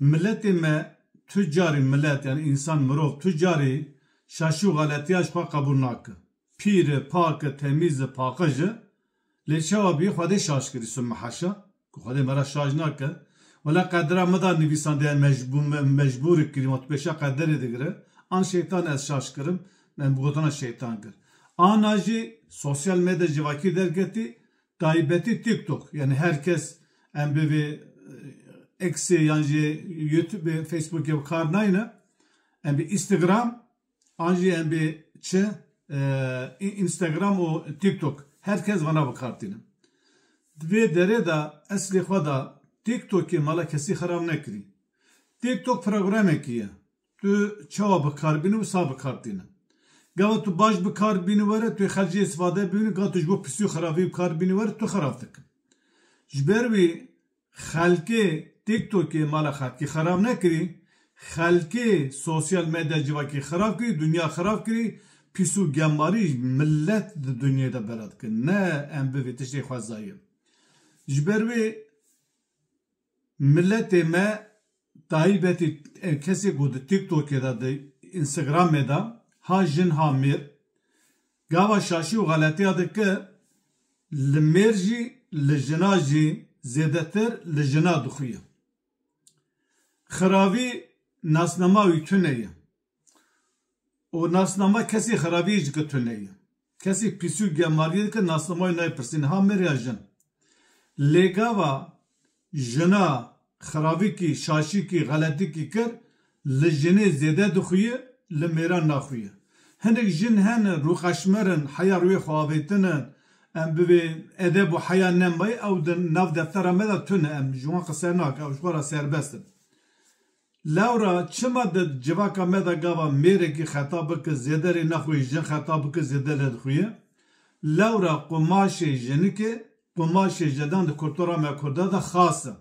Miletê me tu carî milet yan însan mirov tu carî şaşî û xeletiya ji xwe qebûl nake. Pîr e, pak e, temîz e, paqij e. Lê çawa bî Xwedê şaş kirî subme heşa ku Xwedê me re şaş nake. Wela qedira me da nivîsandeyan me ji bo me mecbûrê kirî wan tu pêşiya qederê digire. An şeytan ez şaş kirim, me bi gotina şeytan kir. Ana jî sosyal medya civakî derketî Taybetî TikTok yanî her kes em bivê Xê yan jî Youtubê, Facebookê bi kar nayne. Em bê Instagram an jî em bê çi Instagram û TikTok her kes vana bi kar tîne. Di vê derê de eslê xwe de TikTokê mala kesî xerab nekirî. TikTok programekî ye. Tu çawa bi kar bînî û sa bi kar tînin. Gava tu baş bi kar bînî were, tu yê xercê îstîfade bînî, gava tu ji bo pisî û xerabî bi kar bînî were, tu xerab dikin. Ji ber wî xelkê TikTokê mala xelkê xerab nekirî, xelkê sosyal medya civakê xerab kirî, dinya xerab kirî, pîs û gemarî milet di dinyayê de bela dikin. Ne em bi vê tiştê xwezayîn. Ji ber wê. Miletê me taybetî kesê ku di TikTokê de, di Instagramê de ha jin ha mêr gava şaşî û xeletiya dike, li mêr jî li jina jî zêdetir li jina dixuye. Xiravî nasnema wî tune ye. Û nasnama kesî xerabiyê ji ketune ye. Kesî pîsî û gemaliyê dike nasnama wî naypirsî niha mir ya jin. Lê gava jina xerabikî, şaşikî, xeletîkî kir li jinê zêde dixuye li mêran naxuye. Hinek jin hene rûqeşmer in, heya rûyê xwe avêtin in. Em bi vê edeb û heya nemaye ew di nav deftera me de tune em ji wan qise nakin ew ji xwe re serbest in. Lewra çima di civaka me de gava mêrekî xeta bike zêde rê nexuye jin xeta bike zêde lê dixuye? Lewra qumaşê jinikê, qumaşê jedan di kultura me Kurda de xas e.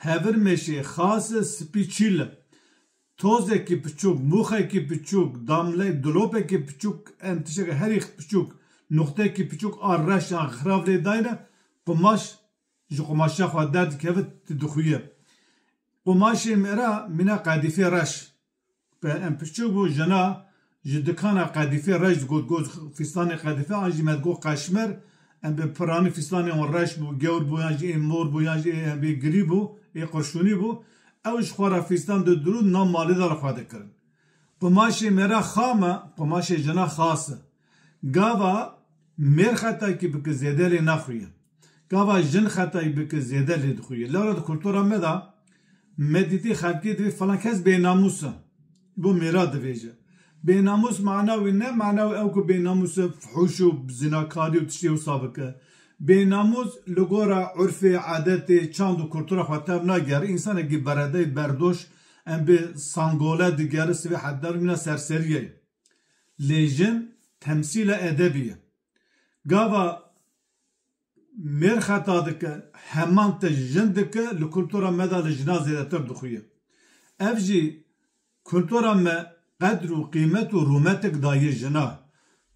Hevir mêşê xas e spî çîl e. Tozekî piçûk, mûxekî piçûk, damleyê dilopekî piçûk em tiştekî herî piçûk, nuqtekî piçûk a reş an xirav lê dayine qumaş Ji qumaşa xwe derdikeve tu dixuye. Qumaşê me re mîna qedîfê reş. Bi em piçûk bû jina ji dikana qedîfê reş digot got fîstanê qedîfe an jî me digot qeşmer. Em bi piranî fîstanê wan reş bû, gewr bû yan jî ê mor bû yan jî ê bê girî bû, ê qurşûnî bû. Ew ji xwe re fîstan didirûn nav malê de li xwe dikirin. Qumaşê me re xam e, qumaşê jina xas e. Gava mêr xetayîkî bike zêde lê naxuye. Gava jin xetayî bike zêde lê dixuye. Lewra di kultura me de me dîtî xelkê divê filan kes bênamûs e. Bo mêra divêje. Bênamûs mana wê ne mana wê ew ku bênamûs e fuhûş û zinakarî û tiştê wisa bike. Bênamûs li gora urfê, adetê, çand û kultura xwe tev nagere. Însanekî beredey, berdoş em bê sangole digere sivê hevdar mîna serserî ye. Lê jin temsîla edebî ye. Gava mêr xeta dike, heman te jin dike, li kultura me de li jinan zêdetir dixuye. Ev jî kultura me qedr û qîmet û rûmetik daye jina.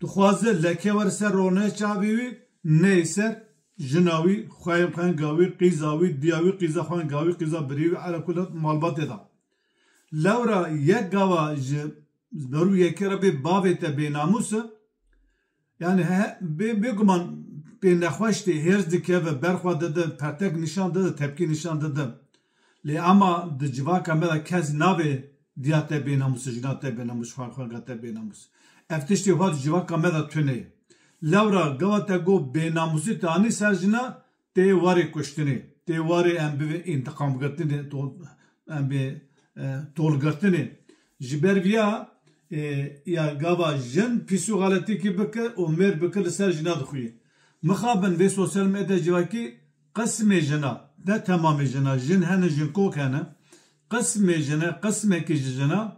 Dixwaze leke wer ser rone çavê wî, neyê ser jina wî, xweyên xwenga wî, qîza wî, diya wî, qîza xwenga wî, qîza birê wî, ela kule malbatê de. Lewra yek gava ji. Berû yekê re bê bavê te bênamûs e. Yani bêguman pê nexweş tê, hêrs dikeve, berxwe dide, pertek nîşan dide, tepkî nîşan dide. Lê ema di civaka me de kes nabê diya te bênamûs, jina te bênamûs, xwendxwanga te bênamûs. Ev tiştê wiha di civaka me de tune ye. Lewra gewa te got bênamûsî te anî ser jina, Tê warê kuştinê, tê warê em bivê întiqamgirtinê, em bê tolgirtinê. Ji ber viya ya gava jin pîs û xeletîkî bike û mêr bike li ser jina dixuyê. Mixabin vê sosyal medya civakî qismê jina, ne temamê jina, jin hene jinkok hene, qismê jine, qismekî ji jina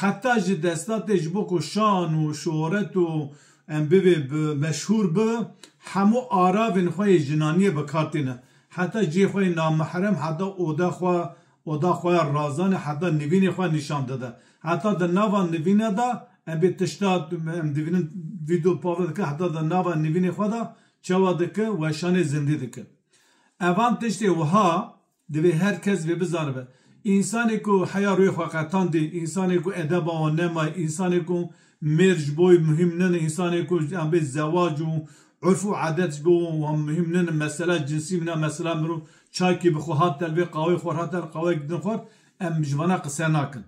Heta ji destatê ji bo ku şan û şohret û em bibê meşhûr bi hemû aravên xwe yê jinaniyê bi kar tîne. Heta cihê xwe yê namihrem, heta oda xwe, oda xwe ya razanê, heta nivînê xwe nîşan dide. Heta di nava nivîne de em bê tişta em dibînin vîdeo pavle dike heta di nava nivînê xwe de çawa dike weşanê zindî dike. Evan tiştê wiha Divê her kes vê bizanibe. Însanê ku heya rûyê xwe qetandî, însanê ku edeba wan nemaye, însanê ku mêr ji bo wî muhîm nine, însanê ku yan bê zewac û urf û adet ji bo wan muhîm nine, mesela cinsî mine, mesela mirov çakî bi xwe hat der vê qawê xwe hat der qaweyek din xwar, em ji wana qise nakin.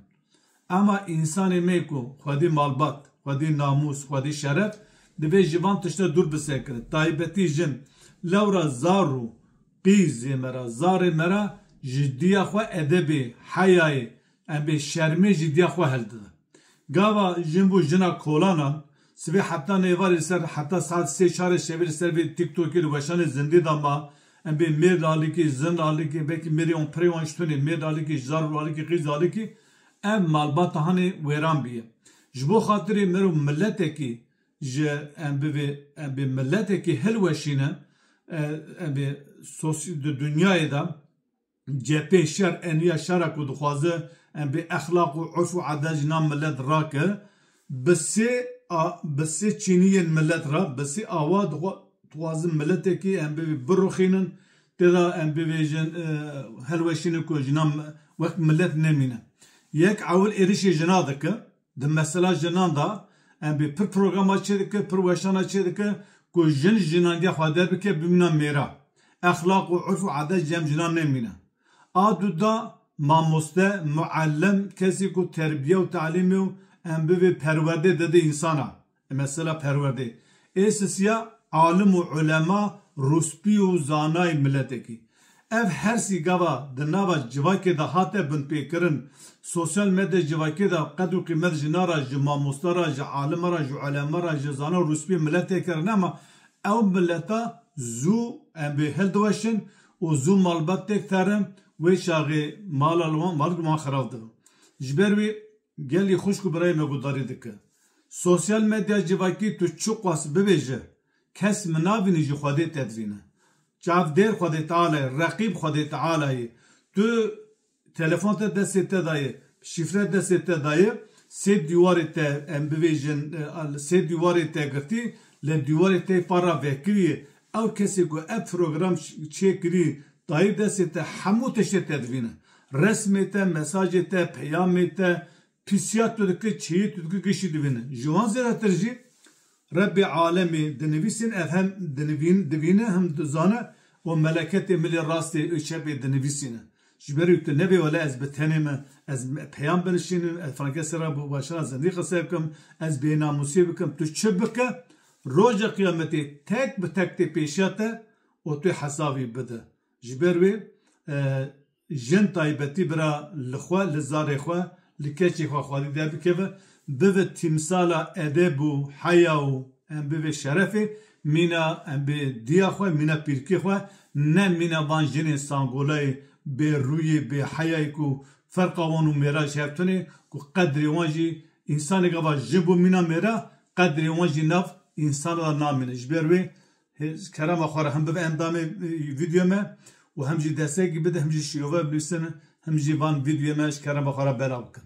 Ema însanê me ku xwedî malbat, xwedî namûs, xwedî şeref, divê ji van tişte dûr bisekirin. Taybetî jin. Lewra zar û. Qîzê me ra, zarê me ra ji diya xwe edebê, heyayê, em bê şermê ji diya xwe hel dide. Gava jin bo jina kolanan, sibê heta nêvarê li ser heta saet sê çarê şevê li ser vê tiktokê li weşanê zindê de ma, em bê mêrd alikê, zind alikê, belkî mêrê wan pirê wan ji tunê, mêrd alikê, ji zaror alikê, qîz alikê, ev malbata hanê wêran bîye. Ji bo xatirê me ro miletekî Ji em bivê em bê miletekî hilweşînin, em bê di dinyayê de cepê şer eniya şera ku dixwaze em bê exlaq û urf û adet ji nav milet rake bi sê bi sê çîniyên milet re bi sê awa dixwazin miletekî em bivê birixînin têda em bivêjin hilweşînin ku ji nav wek milet nemîne. Yek ewil êrişê jina dike. Di mesela jinan de em bê pir programa çê dikin, pir weşana çê dikin ku jin jinangiya xwe derbike bimîna mêra. Exlaq û urf û adet ji cem jinan nemîne. A du da mamoste, muellim, kesî ku terbiye û talîmê û em bivê perwerdê dide însana. Mesela perwerdê ê sisiya alim û ulema, rûspî û zanayê miletekî. Ev hersî gava di nava civakê de hate binpêkirin. Sosyal medyaya civakê de qed û qîmet ji na re, ji mamosta re, ji alima re, ji ulema re, ji zana û rûspî miletê kirine ma ew mileta zû em bê hildiweşin û zû malbat têk terin wê çaxê mala li wan wan xirav dibin. Ji ber wê gelî xwişk û birayê me guhdarî dike. Sosyal medya civakî tu çiqas bibêje kes min nabînî ji Xwedê tedivîne. Çavdêr Xwedê Teala ye, reqîb Xwedê Teala ye. Tu telefon te destê te de ye, şîfre destê te de ye, sê dîwarê te em bibêjin li sê dîwarê te girtî lê dîwarê te yê par re vekirî ye. Ew kesê ku ev program çêkirî dayê destê te hemû tiştê tedivîne. Resmê te, mesajê te, peyamê te, Pisîya tu dike, çêyê tu dike giştî divîne. Ji wan zêdetir jî Rebbê alemê di nivîsên ev hem dinivîn, divîne hem dizane û meleketê milê rastê û çepê dinivîsîne. Ji ber wî tu nebê wele ez bi tenê me, ez peyam binişînim, ez frankesê re bi weşana zindî qise bikim, ez bênamûsî bikim, tu çi bike roja qiyametê tek bi tek tê pêşiya te û tu hesavî bide. Ji ber wê jin taybetî bira li xwe, li zarê xwe, li keçê xwe xwedî derbikeve, bibe tîmsala edeb û heya û em bibê şerefê mîna em bê diya xwe, mîna pîrkê xwe, ne mîna van jinê sangolayê bê rûyê, bê heyayê ku ferqa wan û mêra ji hev tunê ku qedrê wan jî însaneke va jin bû mîna mêra qedrê wan jî nav însan de namîne. Ji ber wê Kerema xwe re hem bibe endamê vîdyoyê me û hem jî destekî bide, hem jî şîrove binivîsin, hem jî van vîdyoyê me ji kerema xwe re belav bikin.